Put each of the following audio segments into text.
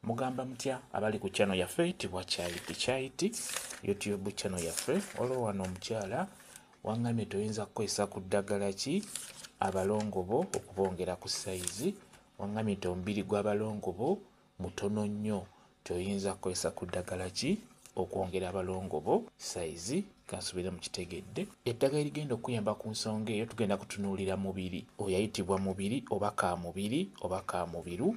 Mugamba mutya abali ku channel yaffe tibwa chaiti chaiti YouTube channel yaffe waliwo wano omukyala wangambye nti oyinza kukozesa ku ddagala ki abalongo bo okubongera ku sayizi wangambye nti omubiri gw'abalongo bo mutono nnyo tioyinza kukozesa ku ddagala ki okwongera abalongo bo sayizi kansubire mukitegedde eddagala erigenda okuyamba ku nsonga eyo tugenda kutunuulira mubiri oyo ayitibwa mubiri oba ka mubiri oba ka mubiru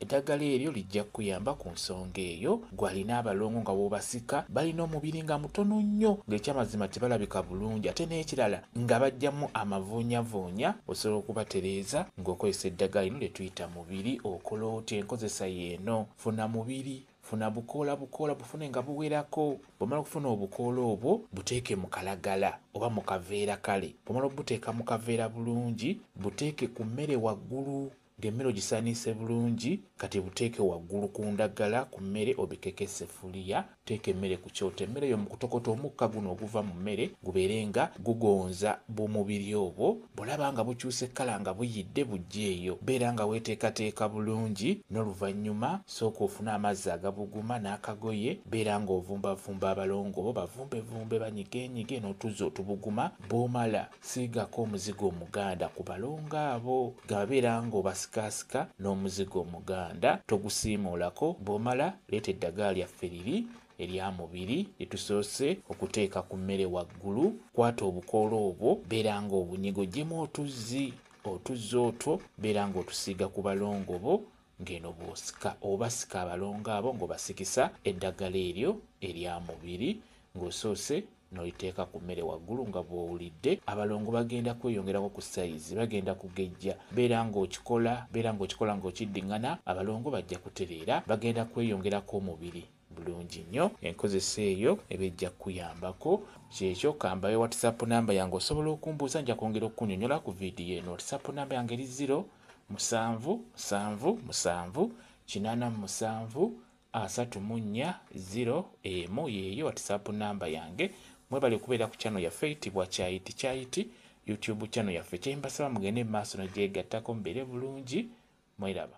eddagala eryo lijja kukuyamba ku nsonga eyo gwalina abalongo nga wobasika balina omubiri nga mutono nnyo ng'ekyamazima tebalabika bulungi ate n'ekirala nga bajjamu amavuunyavuunya osobola okubatereeza ng'okozesa eddagala lino lye tuyita mubiri okola otya enkozesa yeeno funa mubiri Funa bukoola bukoola bufune nga buwerako. Bw'omala okufuna obukoola obwo buteeke mu kalagala oba mu kaveera kale bw'omala okubuteeka mu kaveera bulungi buteeke ku mmere waggulu ng'emmere ogisaniise bulungi kati buteeke waggulu ku ndagala ku mmere obikeko esseffuliya teeka emmere ku kyoto emmere yo mu kutokota omukka guno oguva mu mmere gubeere nga gugonza bumubiri obwo bw'olaba nga bukyuse kkala nga buyidde bujja eyo beera nga weeteekateeka bulungi n'oluvannyuma Sooka ofune amazzi agabuguma n'akagoye, beera ng'ovumbavumba abalongo bo bavumbevumbe banyigenyige n'otuzzi otubuguma, bw'omala siigako omuzigo omuganda ku balongo abo nga beera ng'obasikaasika n'omuzigo omuganda, togusiimuulako, bw'omala leeta eddagala lyaffe liri erya mubiri lye tusoose okuteeka ku mmere waggulu, kwata obukoola obwo beera ng'obunyiga oggyemu otuzzi, otuzzi otwo beera ng'otusiiga ku balongo bo ng'eno bw'osika oba sika abalongo abo ng'obasikisa eddagala eryo erya mubiri ng'osoose n'oliteeka ku mmere waggulu nga bw'owulidde abalongo bagenda kweyongerako ku sayizi bagenda kugejja beera ng'okikola beera ng'okikola ng'okiddingana abalongo bajja kutereera bagenda kweyongerako omubiri Bulungi nnyo enkozesa eyo eba ejja kukuyambako. Kyekyo kambawe whatsapp number yange osobola okumbuuza nja kwongera okukunyonyola ku vidiyo eno. Whatsapp number yange eri ziro musanvu musanvu musanvu kinaana mu musanvu asatu mu nnya ziro emu yeeyo whatsapp number yange. Mwebale kubeera ku channel yaffe eyitibwa Kyayiti Kyayiti YouTube channel yaffe. Kyembasaba mugende mu maaso nagyegattako mubeere bulungi mweraba.